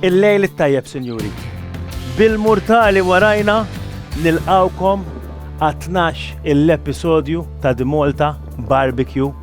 Il-lejl it-tajjeb, sinjuri. Bil-mortali warajna nilqawkom għat-12 il-episodju ta' The Malta Barbecue.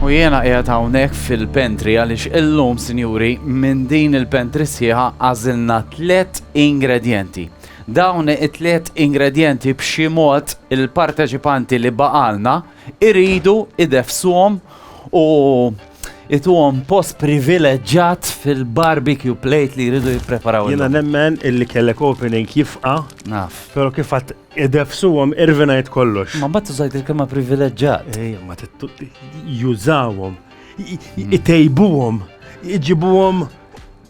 U jiena qiegħed hawnhekk fil-pentri għaliex illum, sinjuri, minn din il-pentri sħiħa għażilna tliet ingredjenti. Dawn it-tliet ingredjenti b'xi mod il-parteċipanti li baqgħalna jridu ideffsuhom u jtuhom post privileġġat fil-barbecue plate li jridu jippreparaw illum. Jiena nemmen illi kellek opening jifqa'. Naf. Però kif għedt ideffsuhom irvinajt kollox. Ma mbagħad użajt il-kelma privileġġat. Ejja, ma jużawhom, itejbuhom, iġibuhom.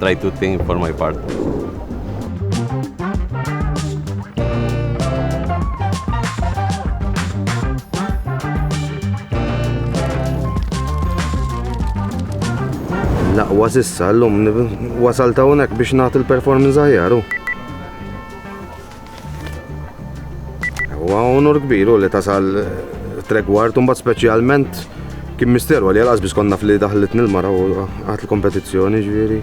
try to think for my part. Laqwa sissa l-lum wasal ta' unek biex nagħti l-performance ħajaru. Huwa onur kbir u li tasal tregward un bat speċjalment kien misteru għalli għal biss konna fli daħlet nil-mara u għat l-kompetizzjoni ġviri.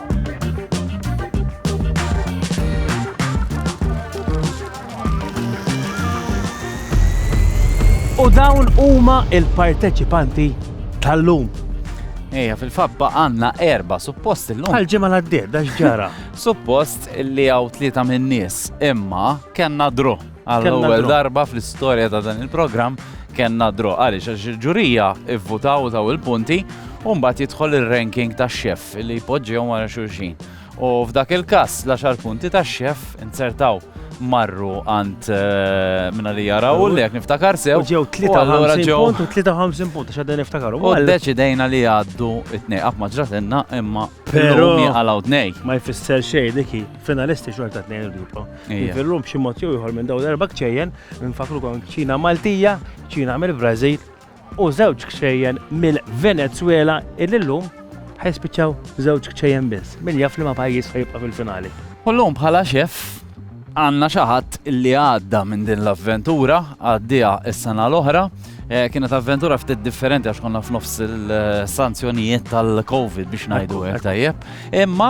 U dawn huma il-parteċipanti tal-lum. Eja, fil-fabba għanna erba, suppost il-lum. Għal-ġimma l-għaddir, dax ġara. suppost li għaw tlieta minn nies, imma kena dru. Għall-ewwel darba fl-istorja ta' dan il-programm kellna dro għaliex għax il-ġurija ivvutaw taw il-punti u mbagħad jidħol ir-ranking tax-xef li jpoġġihom wara xulxin. U f'dak il-każ l-10 punti tax-xef inzertaw marru għand eh, minna li jaraw li jek niftakar sew. Ġew 53 punt u 53 punt għax għadden niftakar. U deċidejna li għaddu it-nej għaf maġratenna imma pero għalaw t-nej. Ma jfisser xej diki finalisti xorta t-nej l-grupp. Illum b'xi mod jew ieħor minn dawn l-erba' kċejjen nfakru kon kċina Maltija, kċina mill-Brażil u żewġ kċejjen mill-Venezuela illum ħajspiċċaw żewġ kċejjen biss. Min jaf li ma pajjiż ħajibqa' fil-finali. Kollhom bħala xef għanna xaħat li għadda minn din l-avventura, għaddija s-sena l-oħra. Eh, kienet avventura ftit differenti għax konna f'nofs il-sanzjonijiet tal-Covid biex najdu għek tajjeb. Imma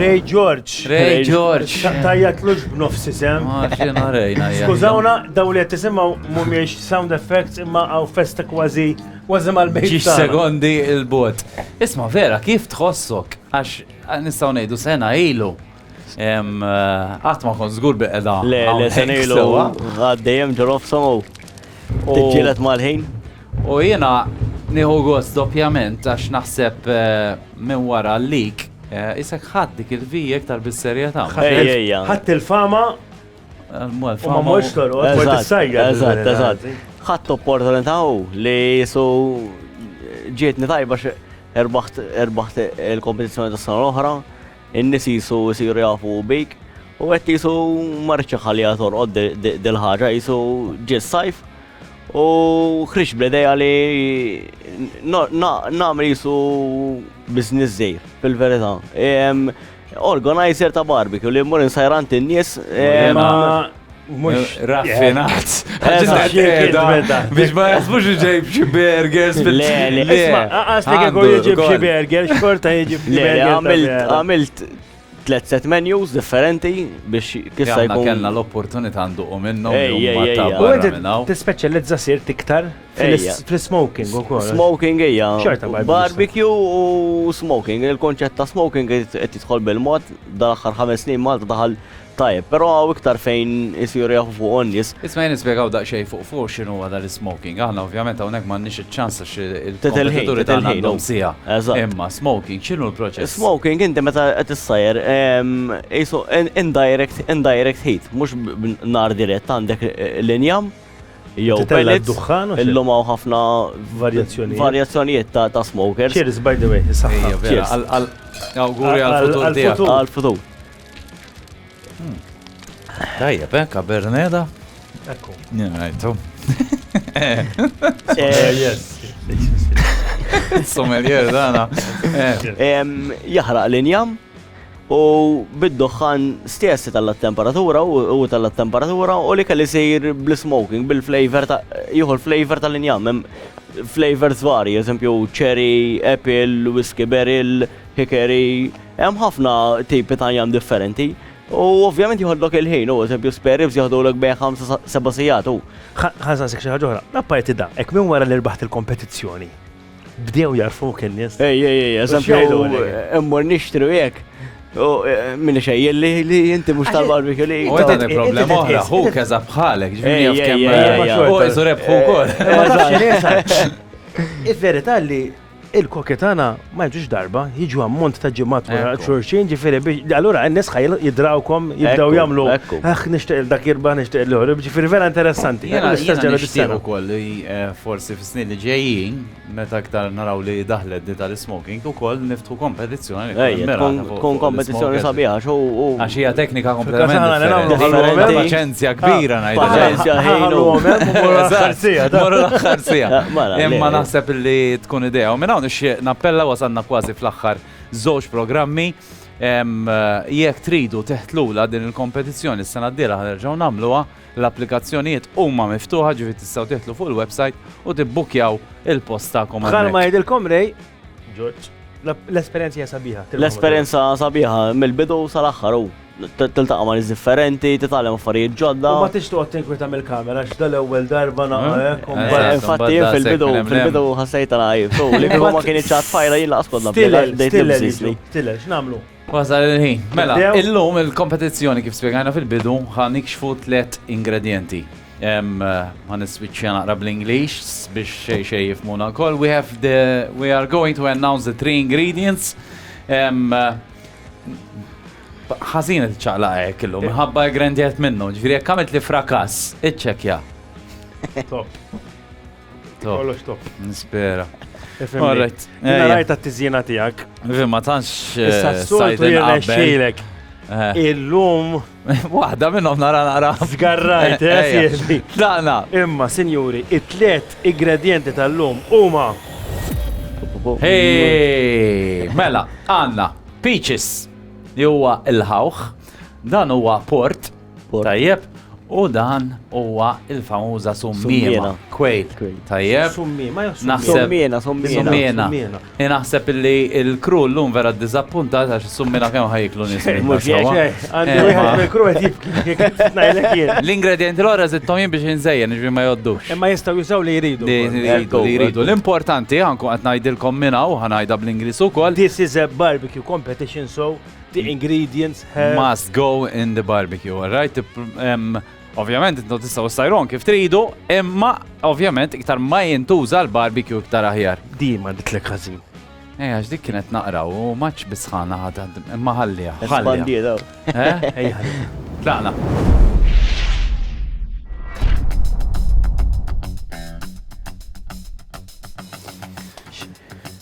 Ray George. Ray George. Tajjat lux b'nofs isem. Skużawna, daw li jtisimaw mumiex sound effects imma għaw festa kważi kważi mal-bejt. Ġiġ sekondi il-bot. Isma vera, kif tħossok? Għax nistaw nejdu sena ilu. Għat ma kon zgur biqda. Le, le, senilu għaddejem ġorof somu. Tġilet mal-ħin. U jena nieħu gost doppjament għax naħseb eh, minn wara l-lik eh, isek ħadd dik il-vijek tal-bisserjetà. Ħadd il-fama eh, ma morx toroq, mort is-sajja. Eżatt, eżatt. Ħadd opportunità li jisu ġietni tajba erbaħt il-kompetizzjoni tas-sena l-oħra. In-nies qisu jsiru jafu bik u qed qisu ma rridx inħalliha torqod dil-ħaġa, qisu ġie s-sajf u ħriġt bl-idea li nagħmel qisu business żgħir, fil-verità. Organizer ta' barbecue li mmur insajr għand in-nies. Mux raffinat. Biex ma jasbux ġejb xie burgers. Le, le, le. Għastek għu jġib xie burgers, xorta jġib xie burgers. Għamilt tlet set menus differenti biex kissa jkun. Kellna l-opportunità nduqu minnhom. Tispeċjalizza sir tiktar fil-smoking ukoll. Smoking hija. Barbecue u smoking. Il-konċett ta' smoking qed jidħol bil-mod dal-aħħar ħames snin Malta daħal Tajjeb, però hawn iktar fejn isiru jaħbu fuqu n-nies. Isma' jien nispjegaw daqsxejn fuq fuq x'inhuwa dan is-smoking. Aħna ovvjament hawnhekk m'għandniex iċ-ċans għax il-kompetituri tagħna għandhom siegħa. Imma smoking x'inhu l-proċess? Smoking inti meta qed issajjar qisu indirect indirect heat, mhux b'nar dirett għandek l-injam jew pellets. Dukħan u llum hawn ħafna varjazzjonijiet. Varjazzjonijiet ta' smokers. Cheers by the way, is-saħħa. Awguri għall-futur tiegħek. Għall-futur. Hmm. Tajjeb, eh, kaberneda? Ekku. Njajtu. Eh. Eh, Sommelier, dana. Jahraq l-injam u bid-doħħan stessi tal-temperatura u tal-temperatura u li kelli sejr bl-smoking, bil-flavor, juhu l-flavor tal-injam, flavors vari, eżempju cherry, apple, whiskey berry, Hickory, hemm ħafna tipi ta' jam differenti u ovvjament jieħodlok il-ħin, u eżempju spare ribs jieħdulek bejn ħamsa sa seba' sigħat u. Ħa nsaqsik xi ħaġa oħra, apparti dan, hekk minn wara li rbaħt il-kompetizzjoni, bdew jagħrfuk in-nies? Ej, ej, ej, eżempju, immur nixtri u hekk, u min ixejjilli li inti mhux tal-barbecue li. U qed għandek problema oħra, ħuk eżatt bħalek, ġifieri jaf kemm. U qisu rebħu wkoll. Is-verità li Il-koki tagħna ma jiġux darba, jiġu ammont ta' ġimgħat wara xulxin, ġifieri biex allura n-nies ħa jidrawkom jibdew jagħmlu aħ nixtieq il dak jirbaħ nixtieq il ieħor, ġifieri vera interessanti. Jiena l-istess ġara dis-sena. ukoll li forsi fis-snin li ġejjin meta iktar naraw li daħlet di tal-ismoking ukoll niftħu kompetizzjoni. Tkun kompetizzjoni sabiħa għax u. Għax hija teknika kompletament. Paċenzja kbira ngħid. Paċenzja ħajlu. Morru l-aħħar sija. Imma naħseb li tkun idea. U minn hawn ixtieq nappella wasanna kważi fl-aħħar żewġ programmi. Jekk tridu teħtlula din il-kompetizzjoni s-sena d-dira ħanerġaw namluwa, l-applikazzjonijiet huma miftuħa ġifi tistgħu teħtlu fuq il-website u tibbukjaw il-posta komandu. Bħal ma jidilkom rej, Ġorġ, l-esperjenza hija sabiħa. L-esperjenza sabiħa mill-bidu sal-aħħar u tiltaqa' ma' nies differenti, titgħallem affarijiet ġodda. Ma tix toqgħod tinkwita mill-kamera għax dal-ewwel darba naqgħek. Eh? Eh, infatti fil-bidu fil-bidu ħassejt għajb. Li ma kien iċċat fajra jien laqas kont nabdel. Tilel, x'namlu? Wasal il-ħin. Mela, illum il-kompetizzjoni kif spiegħajna fil-bidu ħan ikxfu tlet ingredienti. Ħan iswiċċja naqra bl-English biex xej xej jifmuna kol. We have the, we are going to announce the three ingredients. Ħazin il-ċaqla għek illum, eh. ħabba grandiet minnu, ġviri għek għamilt li frakas, iċċekja. Top. Kollox top. Nispera. Alright. Rajt ta' tiżjena tiegħek. Ma tantx. Issa eh, s-soltu jirnexxilek. Eh. Illum. Waħda minnhom nara nara. Zgarrajt, eh, Dana. Imma, sinjuri, it-tlet ingredienti tal-lum huma. Hey, mela, għanna, peaches, li huwa il-ħawħ, dan huwa port, Tajjeb, u dan huwa il-famuża summiena. Kwejt. Tajjeb. Summiena, summiena, summiena. Naħseb li l-kru llum vera ddiżappuntat għax is-summiena kemm ħajklu nies. L-ingredienti l-ora zittom jien biex inżejjen, ġvi ma joddux. Imma jistgħu jużaw li jridu. Li jridu. L-importanti għanku qed ngħidilkom minna u ħanajda bl-Ingliż ukoll. This is a barbecue competition, so The ingredients have... Must go in the barbecue, alright? Um, ovvjament, intu tistaw sajron kif tridu, imma ovvjament iktar ma jintuża l-barbecue iktar aħjar. Di ma ditlek ħażin. Ej, għax dik kienet naqra u maċ bisħana ħadha, imma ħallija. Ħallija. Eh? Ej, ħallija. Tlaqna.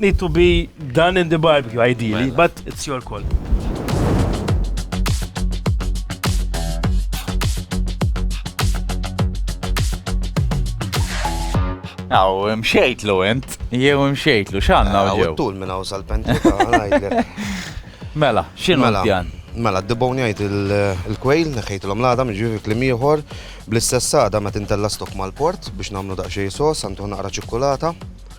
Need to be done in the barbecue, ideally, mela. but it's your call. Aw, mxejtlu int, jew mxejtlu, xanna u ġew. Tul minn għaw sal-pentika, Mela, xinu mela, pjan? Mela, d-dibon jgħid il-kwejl, neħħejt l-omlada, mġivi klim ieħor, Bl-istess għada meta intella' stock mal-port biex nagħmlu daqsxejn sos, għantuh naqra ċikkulata.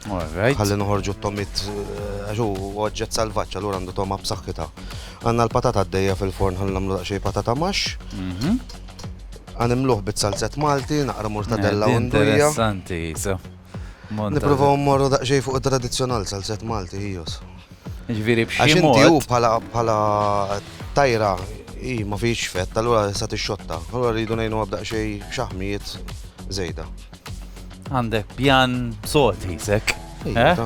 Alright. Ħalli noħorġu t-tomit eh, għax hu oġġett salvaġġ allura għandu toma b'saħħitha. Għandna l-patata għaddejja fil-forn ħalli nagħmlu daqsxejn patata max. Mhm. Għanimluh bit-salzett Malti, naqra mortadella u ndurija. Interessanti, so. Nipruvaw mmorru daqsxejn fuq it-tradizzjonal salset Malti hijos. Ġifieri b'xi mod. Għax inti bħala bħala tajra hi ma fiex fett, allura sa tixxotta. Allura rridu ngħinu daqsxejn xaħmijiet żejda. Għandek pjan sod hisek. Eh?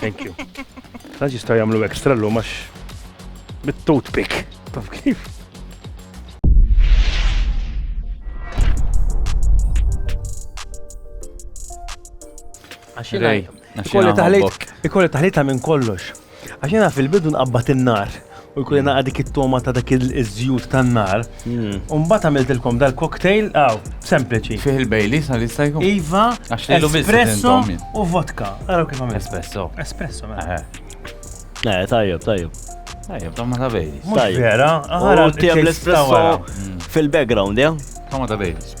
Thank you. Għax jistaw jamlu ekstra l għax bit-toothpick. Taf kif? Ikolli taħlit, ikolli taħlita minn kollox. Għaxina fil-bidu nqabbat in-nar u jkun jena għadik it-toma ta' dak il-żjut tan-nar. Hmm. Umbat għamiltilkom dal-cocktail, għaw, sempliċi. Fih il-bejli, sa' li stajku? Iva, espresso u vodka. Għaraw kif għamil. Espresso. Espresso, ma. Mela. Eh. eh, tajjeb, tajjeb. Tajjeb, toma ta' bejli. Mux vera, għara. U tijem l-espresso hmm. fil-background, ja? Toma ta' bejli.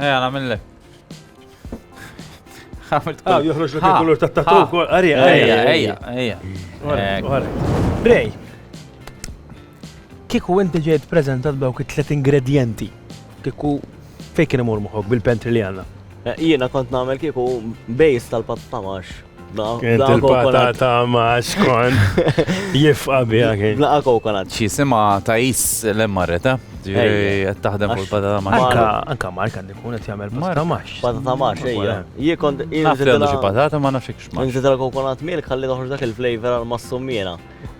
Ejja, namillek. Ah, joħroġ l kulur ta' tatu kol. Arja, arja, arja, arja. Rej, kiku inti ġejt prezentat dawk it-tlet ingredienti, kiku fejkin imur muħok bil-pentri li għanna. Jiena kont nagħmel kieku bejs tal-pat ta' max. Il-pata ta' max kon jifqa bija kien. Blaqa kokonat. Xi sima ta' jis l-emmarret, eh? Ġiri, taħdem fuq il-pata ta' max. Anka Mark għandu jkun qed jagħmel pata ta' max. Pata ta' max, ejja. Jien kont. Nafx għandu xi patata ma nafx ikx max. Nżidilha kokonat milk ħalli toħroġ dak il-flavor għal mas-summiena.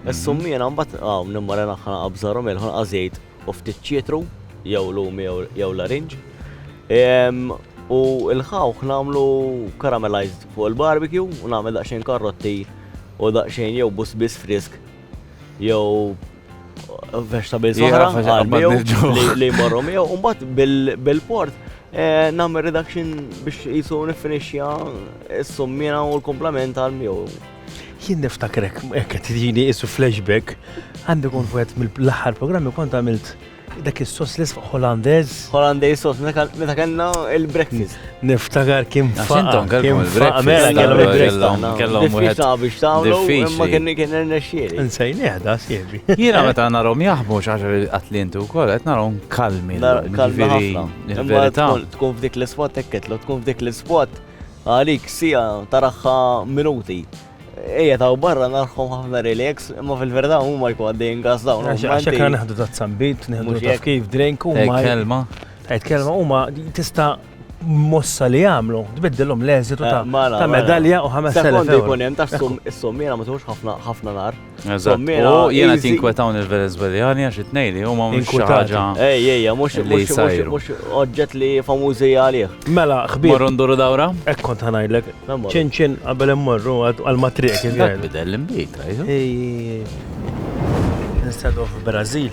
Is-summiena mbagħad hawn nimmarinaħħa naqabżaru milħu naqażejt. u ftit ċietru jew lumi jew larinġ. U l-ħawħ nagħmlu caramelized fuq il-barbecue u nagħmel daqsxejn karrotti u daqsxejn jew busbis frisk jew vegetables oħra li jmorru miegħu u mbagħad bil-port eh, nagħmel reduction biex jisu nifinixja s-summina u l-komplement għal miegħu. Jien niftakrek, ekk tidini isu flashback, għandi kun fuqet mill-aħħar programmi kont għamilt dak is-soslis fuq Hollandez. Hollandez sos, meta kellna il-breakfast. Niftakar kien faqa. Kien faqa, mela kellhom il-breakfast. Kellhom wieħed biex tagħmlu, imma kien kien irnexxieli. Insejn jahda siebi. Jiena meta narhom jaħbu xaġa atlintu wkoll qed narhom kalmi. Kalmi ħafna. Tkun f'dik l-ispot tekket, tkun f'dik l-ispot Għalik siegħa taraħħa minuti. Ejja taw barra narħhom ħafna relax, imma fil-verità huma jkun għaddejjin gas dawn. Għax kan naħdu ta' tsambit, nieħdu ta' kif drink u ma. Kelma. Kelma huma tista' mossa li għamlu, tbiddilhom l-eżitu eh, ta' mela, mela. medalja u 5000 euro. Sekondi jkun hemm ta' s-sum, is-sum jiena ma ħafna ħafna nar. Tommina. Jena tinkwetaw il-Venezueljani għax it-nej li huma mhux ħaġa. Ej, ej, mhux mhux oġġett li famużi għalih. Mela, ħbib. Morru nduru dawra? Hekk kont ħanajlek. Ċinċin qabel immorru għal matriek. Bidel l-imbit, Instead of Brazil.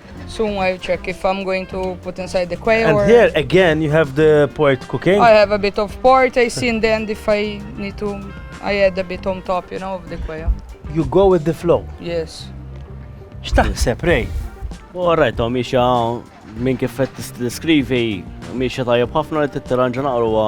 Soon I'll check if I'm going to put inside the quail. And or... here again you have the port cooking. I have a bit of port. I see in the end if I need to, I add a bit on top, you know, of the quail. You go with the flow. Yes. X'taħseb rej? Alright, Tom, ixa minn kif qed tiskrivi, miexa tajjeb ħafna li tittiranġa naqruha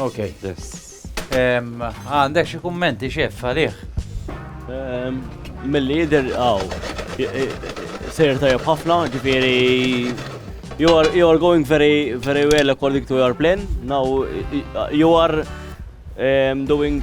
Ok. Għandek xi kummenti xef għalih? Milli jidher aw. Sejr tajjeb ħafna, ġifieri you are you are going very very well according to your plan. Now you are um, doing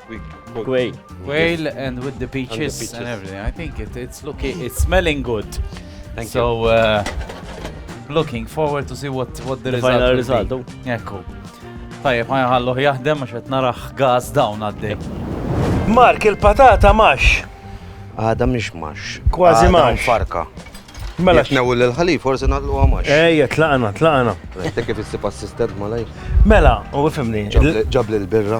Quail. Quail and with the peaches and, the peaches. and everything. I think it, it's looking, it's smelling good. Thank so, you. Uh, looking forward to see what, what the, the result final result. Be. Oh. Ekku. Tajjeb, ma jħalluħ jaħdem għax qed naraħ gas dawn għaddej. Mark, il-patata max. Għada mhix max. Kważi max. Farka. Mela. Jitnew l-ħalif, forse nallu għamax. Ejja, tlaqna, tlaqna. Tek kif issib assistent malaj. Mela, u fimni. Ġabli l-birra.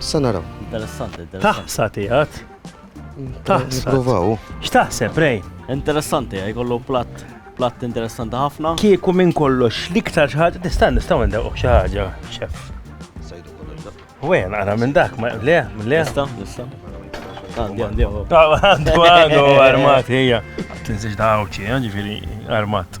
Sa naraw. Interessanti, interessanti. Taħsa tiegħek. Taħsa. Provaw. X'taħseb, Rej? Interessanti, jkollu platt platt interessanti ħafna. Kieku minn kollox l-iktar xi ħaġa tista' nistgħu ndewq xi ħaġa, xef. Sajdu kollox dak. Wen, ara minn dak, ma le, le. Nista, nista. Għandi, għandi. Għandu, għandu, armat, hija. Tinsiġ dawċi, ġifieri armat.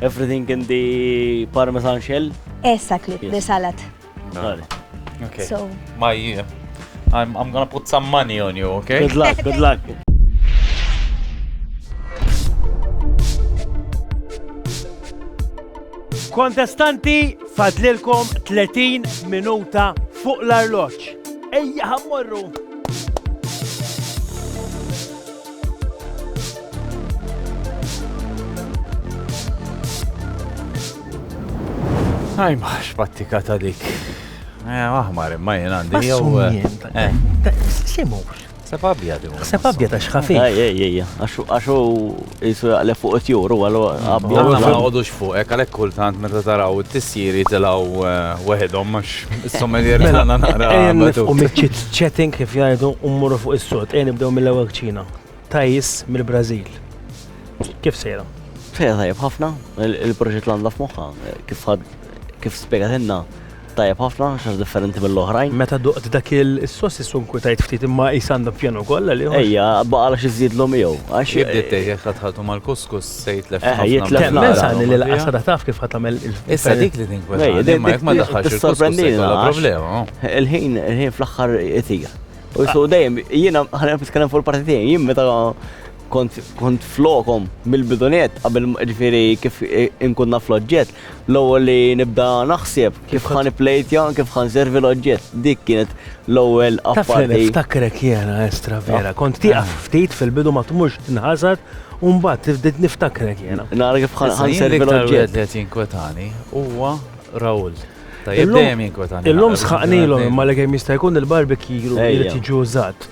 Everything in the parmesan shell? Exactly, the salad. Okay. So. My, uh, I'm, I'm gonna put some money on you, okay? Good luck, good luck. Kontestanti, fadlilkom 30 minuta fuq l-arloċ. Ejja, ħammorru! Ajma, xbattika ta' dik. Eh, aħmar, imma jien għandi. Jew. Eh, eh. Simur. Sepp abjad. Sepp abjad għax ħafif. Ejja, ejja, għaxu jisu jaqleb fuq it-juru, għallu abjad. Ma għodux fuq, ek għalek kultant meta taraw t-tissiri tilaw eh, weħedhom għax. Sommelier tagħna naqra. U miċċit chatting kif jgħidu u mmorru fuq is-sod. Ejn nibdew mill-ewwel kċina. Tajis mill-Brażil. Kif sejra? Fejja tajjeb ħafna, il-proġett l-għanda f'moħħa, kif kif spiegatilna tajjeb ħafna, xax differenti mill-oħrajn. Meta duqt dak il-sos jissun kwitajt ftit imma jisanda pjanu kolla li. Ejja, baqala xizid l-om jew. Għax jibdi tejja tħatħaltu mal-kuskus. Se jitlef eh, ħafna. Jitlef Temmen sani li l-qasada taf kif ħatamel il-ferri. Issa dik li tinkwet. Ma jek ma daħħax il-sorprendina. Problema. Il-ħin, il-ħin fl-axħar itija. U so dejjem, jiena ħana nitkellem fuq il-parti tiegħi, jien meta kont flokom mill-bidunet qabel ġifieri kif inkunna fl-oġġett, L-ewwel li nibda naħseb kif ħa nipplejtja, kif ħa nservi l-oġġett. Dik kienet l-ewwel apparti. Taf li niftakrek jiena Estra vera, ah. kont tieqaf ah. ftit fil-bidu ma tmurx tinħasad u mbagħad niftakrek jiena. Nara kif ħa nservi l-oġġett. Qed jinkwetani huwa Raul. Tajjeb dejjem jinkwetani. Illum sħaqnilhom imma li kemm jista' jkun il-barbecue jrid jiġi użat.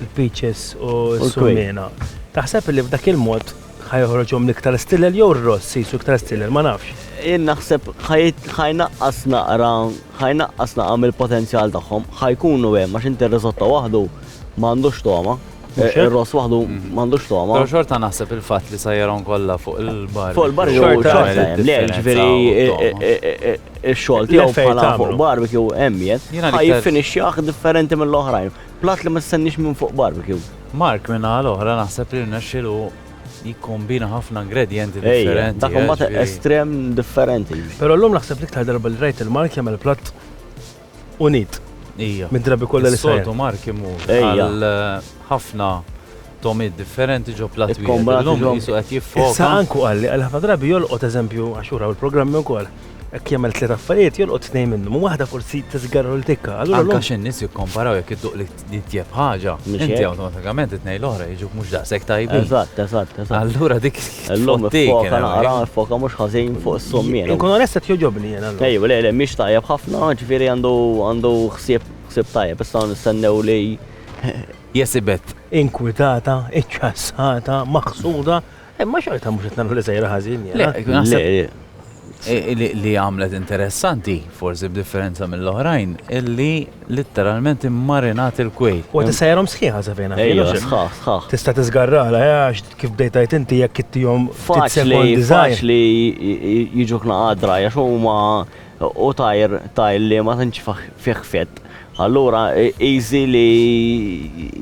l-peaches u s-sulmiena. Taħseb li f'dak il-mod ħa joħroġhom l-iktar stilel jew r-ross qisu iktar stilel, ma nafx. Jien naħseb ħa jnaqqas naqra, ħa jnaqqas naqra mill-potenzjal tagħhom, ħa jkunu hemm għax inti r-risotto waħdu ma għandux togħma. Ir-ross waħdu ma għandux togħma. Però xorta naħseb il-fatt li sajjarhom kollha fuq il-bar. Fuq il-bar xorta hemm. Le, ġifieri x-xogħol tiegħu bħala fuq barbecue hemm jien. Ħa jiffinixxjah differenti mill-oħrajn. Platt li ma tistenniex minn fuq barbecue. Mark min-naħa l-oħra naħseb li rnexxielu jikkombina ħafna ingredjenti differenti. Dak imbagħad estrem differenti. Però llum naħseb l-iktar darba li rajt lil Mark jagħmel platt unit. Mid-drabi kollha li sar. Is-soltu Mark imur għal ħafna Tomiet differenti ġo platt wieħed. Illum qisu qed jiffoka. Issa Anku qal li għal ħafna drabi jolqot eżempju, għax hu raw il-programmi wkoll, hekk jagħmel tliet affarijiet, jolqot tnejn minnhom u waħda forsi tiżgarra u l-tikka. Allura llum. Anke għax in-nies jikkomparaw jekk idduq l-itjeb ħaġa, inti awtomatikament it-tnejn l-oħra jiġuk mhux daqshekk tajbin. Eżatt, eżatt, eżatt. Allura dik Illum iffoka naqra, iffoka mhux ħażin fuq is-sommiera. Inkun onest qed jogħġobni jien allura. Ejw, le, le, mhix tajjeb ħafna, ġifieri għandu ħsieb tajjeb, issa nistennew li Jesibet, inkwitata, iċċassata, maħsuda, imma xorta mhux qed nagħmlu li sejra ħażin. Li għamlet interessanti, forsi b'differenza mill-oħrajn, illi litteralment immarinat il-kwejt. U tista' jarhom sħiħa safina. Ejja, sħaħ, sħaħ. Tista' tiżgarrala, għax kif bdejta inti jekk ittihom faċli li jiġu knaqa draja x'huma Hu tajr, tajr li ma tantx fih fett. Allura easy li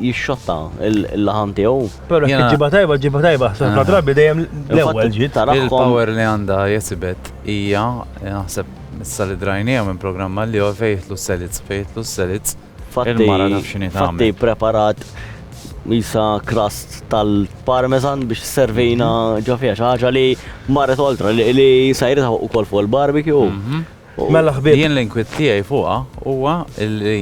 jixxotta l-laħam tiegħu. Però jekk iġġibha tajba, iġġibha tajba. Ħafna drabi dejjem l-ewwel ġiet. Il-power li għandha Jezibet hija, naħseb issa li drajnieha minn programm għal ieħor, fejn jidħlu s-selids, fejn jidħlu s-selids. Fatti preparat jisa crust tal-parmesan biex servina mhm. ġofija xaħġa li marret oltra li sajrita u kol fuq il-barbecue. Mhm. Mela ħbib. Jien l-inkwit tiegħi fuqha huwa li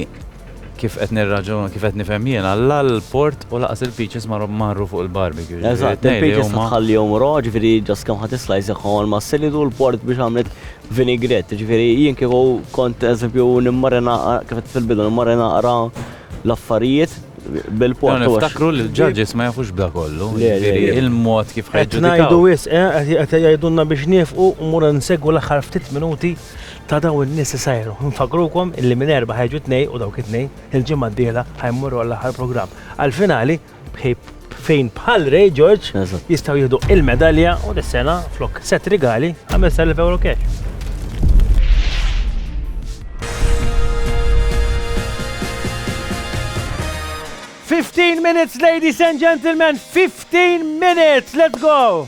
kif qed nirraġun, kif qed nifhem jien, alla l-port u laqas il-peaches marru fuq il-barbecue. Eżatt, il-peaches tħallihom raw, ġifieri ġas kemm ħadd islajs ma' silidu l-port biex għamlet Vinaigrette, ġifieri jien kieku kont eżempju nimmari naqra kif qed fil-bidu nimmari naqra l-affarijiet bil-port. Dawn iftakru li l-judges ma jafux b'da kollu, ġifieri il-mod kif ħajġu. Qed ngħidu wisq, qed jgħidulna biex nieqfu u mmur insegwu l-aħħar ftit minuti ta' dawn in-nies li sajru. Nfakrukom illi minn Erbgħa ħajġu tnejn u dawk it-tnejn il-ġimgħa d-dieħla ħajmorru għall-aħħar programm, għall-finali. Fejn bħal Ray George jistaw jihdu il-medalja u dis-sena flok set rigali 5,000 euro cash. Fifteen minutes, ladies and gentlemen, 15 minutes, let's go!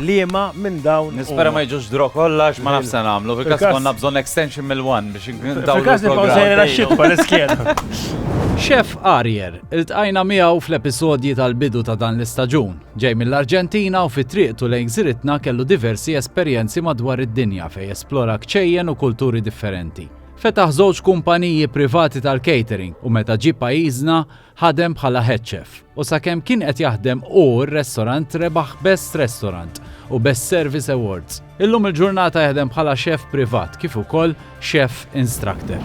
liema minn dawn. Nispera ma jiġux draw kollha għax ma nafx se nagħmlu. Fil-każ li konna bżonn extension mill-one biex indawl. Fil-każ li bqgħu sejrin għax-xitwa l-iskjena. Chef Arier, iltqajna miegħu fl-episodji tal-bidu ta' dan l-istaġun. Ġej mill-Arġentina u fi triqtu lejn gżiritna kellu diversi esperjenzi madwar id-dinja fejn esplora kċejjen u kulturi differenti. Fetaħ żewġ kumpaniji privati tal-catering u meta ġie pajjiżna, Ħadem bħala head chef u sakemm kien qed jaħdem hu r-restorant rebaħ Best Restaurant u Best Service Awards. Illum il-ġurnata jaħdem bħala chef privat kif ukoll chef instructor.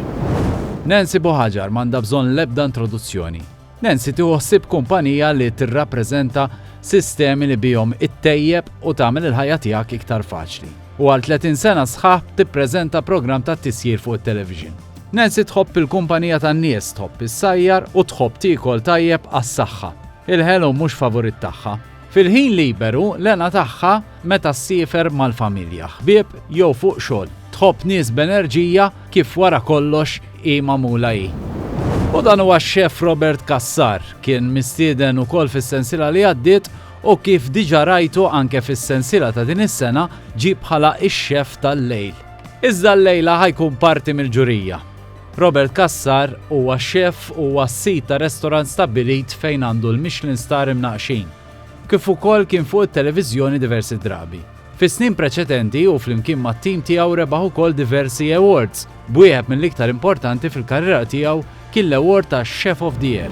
Nancy Buhaġar m'għandha bżonn l-ebda introduzzjoni. Nancy tieħu ħsieb kumpanija li tirrappreżenta sistemi li bihom ittejjeb u tagħmel il-ħajja tiegħek iktar faċli. U għal 30 sena sħaħ tippreżenta programm ta' tisjir fuq it-television. Nancy tħobb il-kumpanija tan-nies, tħobb issajjar u tħobb tiekol tajjeb għas-saħħa. Il-ħelu mhux favorit tagħha. Fil-ħin liberu, l-hena tagħha meta ssiefer mal-familja, ħbieb jew fuq xogħol. Tħobb nies b'enerġija kif wara kollox hi magħmula hi. U dan huwa x-Chef Robert Cassar. Kien mistieden ukoll fis-sensiela li għaddiet u kif diġà rajtu anke fis-sensiela ta' din is-sena ġie bħala x-Chef tal-lejl. Iżda llejla ħa jkun parti mill-ġurija. Robert Cassar huwa xef u huwa s-sid ta' restorant stabbilit fejn għandu l-Michelin Star imnaqqxin, kif ukoll kien fuq it-televiżjoni diversi drabi. Fis-snin preċedenti hu flimkien mat-tim tiegħu rebaħ ukoll diversi awards, b'wieħed mill-iktar importanti fil-karriera tiegħu kien l-award ta' Chef of the Year.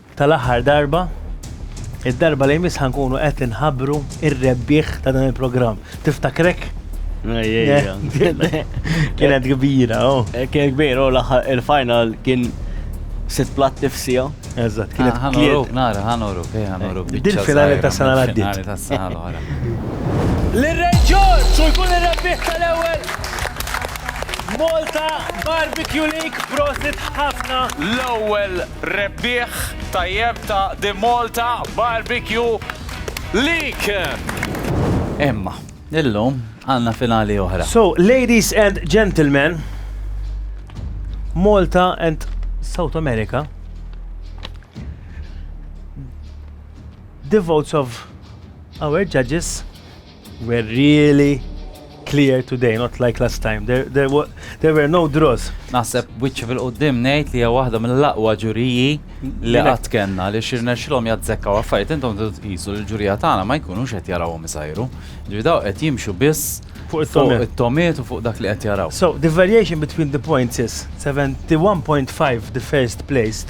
Tal-aħħar darba, id-darba li jmiss ħankunu qed inħabbru ir-rebbieħ ta' dan il-programm. Tiftakrek? Kienet kbira, oh. Eh, kienet kbira, oh, il-final kien sit plat tifsija. Eżatt, kienet ah, kienet. Nara, ħanoru, kej ħanoru. Eh, Din finali ta' sena l-għaddit. Finali ta' sena l-għara. L-reġġor, su jkun il-rebbieħ tal-ewel. Malta Barbecue League, prosit ħafna. L-ewel Rebbieħ tajjeb ta' The Malta Barbecue League! Imma, illum għandna finali oħra. So, ladies and gentlemen, Malta and South America, the votes of our judges, We're really clear today, not like last time. There, there, wa- there were no draws. Naħseb wiċċi fil-qoddim ngħid li hija waħda mill-aqwa ġuriji li qatt kellna li xirnexxilhom jazzekkaw affarijiet intom tridu tqisu li l-ġurija tagħna ma jkunux qed jarawhom isajru. Ġifieri daw qed jimxu biss Fuq it-tomiet. it-tomiet u fuq dak li qed jaraw. So, the variation between the points is 71.5 the first placed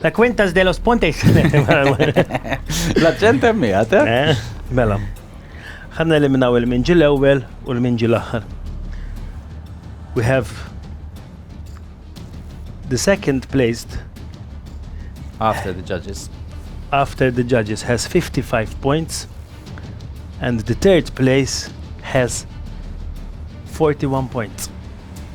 La Cuentas de los Pontes. L-accent emmi, għate? Eh, mela. Għanna eliminaw il-minġi l-ewel u l-minġi l-axar. We have the second placed after the judges after the judges has 55 points and the third place has 41 points.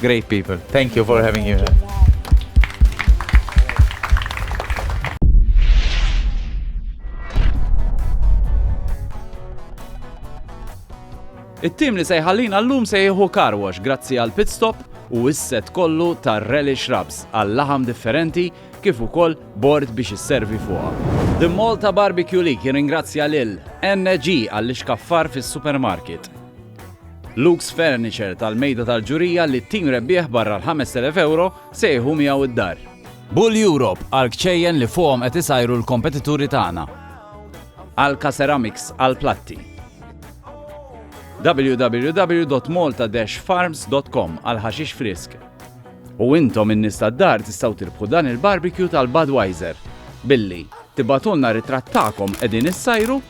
Great people. Thank you for having you here. It-tim li se jħallina l-lum se jieħu karwax grazzi għal pit stop u isset kollu ta' relish shrubs għal laħam differenti kif ukoll bord biex isservi fuqha. The Malta Barbecue League jirringrazzja lil NG għall-ixkaffar fis-supermarket. Luke's Furniture tal-Mejda tal-Ġurija li t-tim rebbieħ barra l-5,000 ewro se jieħu miegħu d-dar. Bull Europe għall-kċejjen li fuqhom qed isajru l-kompetituri tagħna. Alka Ceramics għall-platti. www.malta-farms.com għall-ħaxix frisk. U intom in nista tad-dar tistgħu tirbħu dan il-barbecue tal-Budweiser billi tibatulna ritratt tagħkom qegħdin issajru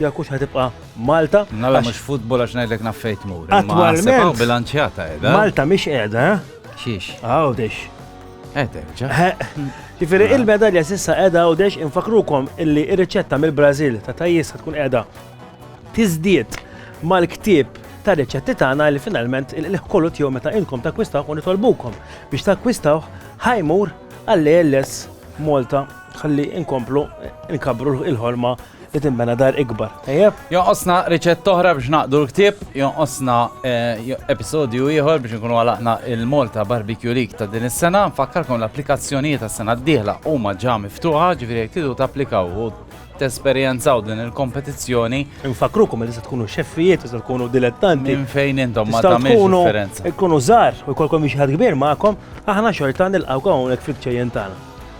Jekk hux ħatibqa' Malta. Nalla mhux futbol għax ngħidlek naf fejn tmur. Attwalment. Bilanċjata qiegħda. Malta mhix qiegħda. Xiex. Għawdex. Eterġa. Ġifieri il-medalja s'issa qiegħda għawdex infakrukom illi r-riċetta mill-Brażil ta' tajjis tkun qiegħda tiżdied mal-ktieb ta' riċetti tagħna li finalment il-kollu tiegħu meta inkom takkwistaw u nitolbukom biex takkwistaw ħajmur għall-ALS Malta ħalli inkomplu nkabru il-ħolma li tinbena dar ikbar, tajjeb? Jonqosna riċett oħra biex naqdu l-ktieb, jonqosna eh, episodju ieħor biex nkunu għalaqna il-Malta Barbecue League ta' din is-sena. Nfakkarkom l-applikazzjonijiet tas-sena d-dieħla huma ġa miftuħa, ġifieri jekk tidu tapplikaw u tesperjenzaw din il-kompetizzjoni. Nfakrukom li se tkunu xeffijiet, se tkunu dilettanti. Minn fejn intom ma tagħmilx differenza. Tkunu żgħar u jkollkom xi ħadd kbir magħkom, aħna xorta nilqgħu hawnhekk fil-ċejjen tagħna.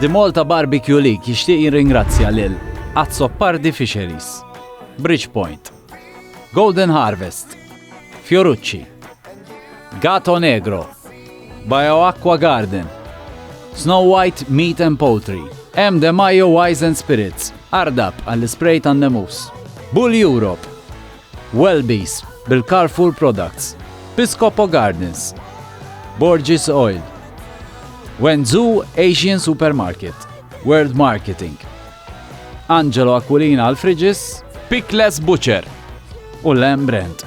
The Malta Barbecue League jixtieq jirringrazzja lil Azzopardi Fisheries, Bridgepoint, Golden Harvest, Fiorucci, Gato Negro, Bioacqua Garden, Snow White Meat and Poultry, M. De Mayo Wise and Spirits, Ardab għall-ispray tan-nemus, Bull Europe, Welby's bil-Carrefour Products, Piscopo Gardens, Borgis Oil, Wenzhou Asian Supermarket, World Marketing, Angelo Aquilina għal Friġis, Pickless Butcher u Lamb Brand.